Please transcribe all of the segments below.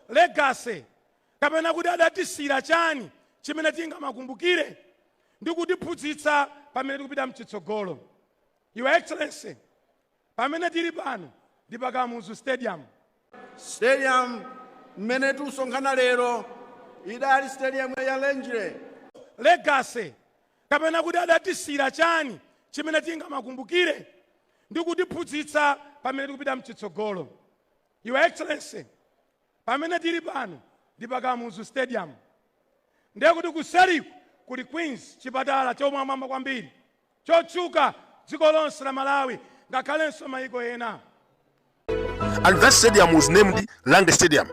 legacy, kapena kuti adatisiyira chani chimene tingamakumbukire ndi kutiphunzitsa pamene tikupita mchitsogolo. Your Excellency, pamene tili pano ndi pa Kamuzu Stadium. Stadium mmene tikusonkhana lero idali stadium ya Rangeley. legacy, kapena kuti adatisiyira chani chimene tingamakumbukire ndi kutiphunzitsa pamene tikupita mchitsogolo. Your Excellency, pamene tili pano ndi pa Kamuzu Stadium. Ndiye kuti kuseriku kuli Queens, chipatala chomwamwamba kwambiri, chotchuka dziko lonse la Malawi ngakhalenso mayiko ena. And that stadium was named Rangeley Stadium.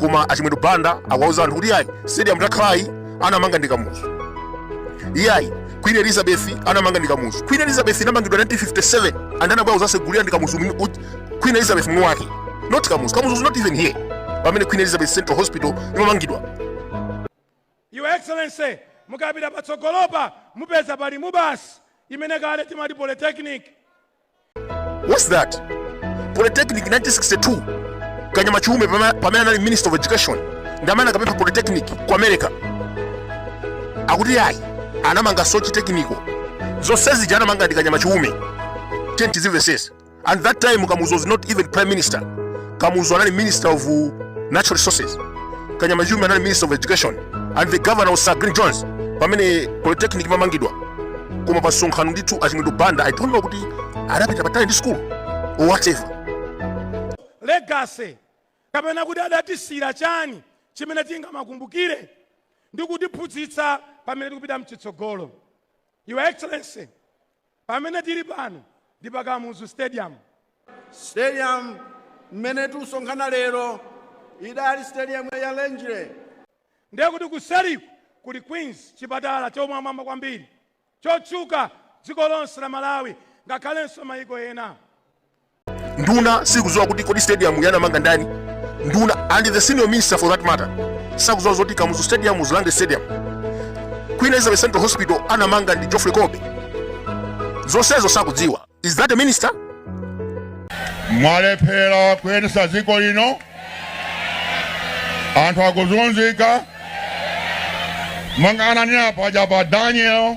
Koma a Chimwendo Banda akuwauza anthu kuti iyayi stadium takhalayi anamanga ndi Kamuzu. Iyayi Queen Elizabeth anamanga ndi Kamuzu. Queen Elizabeth inamangidwa 1957 and anabwera kuzasegulira ndi Kamuzu mwini- uj- queen elizabeth mwini wake not kamuzu kamuzu was not even here pamene queen elizabeth central hospital imamangidwa Your Excellency, mukapita patsogolopa mupeza pali mubas imene kale timati polytechnic. what's that polytechnic 1962 kanyama chiume pama- pamene anali minister of education ndi amene anakapempha polytechnic ku america akuti ayi anamanga soche technical zonse zija anamanga ndi kanyama chiume tenti zimvesese and that time kamuzu was not even prime minister kamuzu anali minister of uh, natural resources kanyama chiume anali minister of education and the governor was sir glyn jones pamene polytechnic imamangidwa koma pa msonkhano ndithu a chimwendo banda i don't know kuti adapita patali ndi school or whatever legacy kapena kuti adatisiyira chani chimene tingamakumbukire ndi kutiphunzitsa pamene tikupita mchitsogolo your excellency Pamene tili pano ndi pa Kamuzu Stadium. Stadium mmene tusonkhana lero idali stadium ya Rangeley. Ndiye kuti kuseriku kuli Queens, chipatala chomwamwamba kwambiri chotchuka dziko lonse la Malawi ngakhalenso mayiko ena. nduna sikuziwa kuti kodi stadium yi anamanga ndani nduna and the senior minister for that matter sakuziwa zoti kamuzu stadium was rangeley stadium queen elizabeth central hospital anamanga ndi geoffrey colby zonsezo sakudziwa is that a minister mwalephera kuyendesa dziko lino anthu akuzunzika mang'anani apa aja pa daniel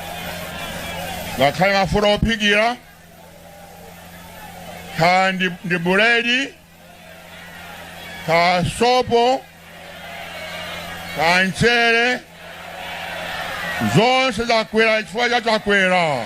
ngakhale mafuta ophikira kaya ndi, ndi buledi kaya sopo kaya mchere zonse zakwera chifukwa cha chakwera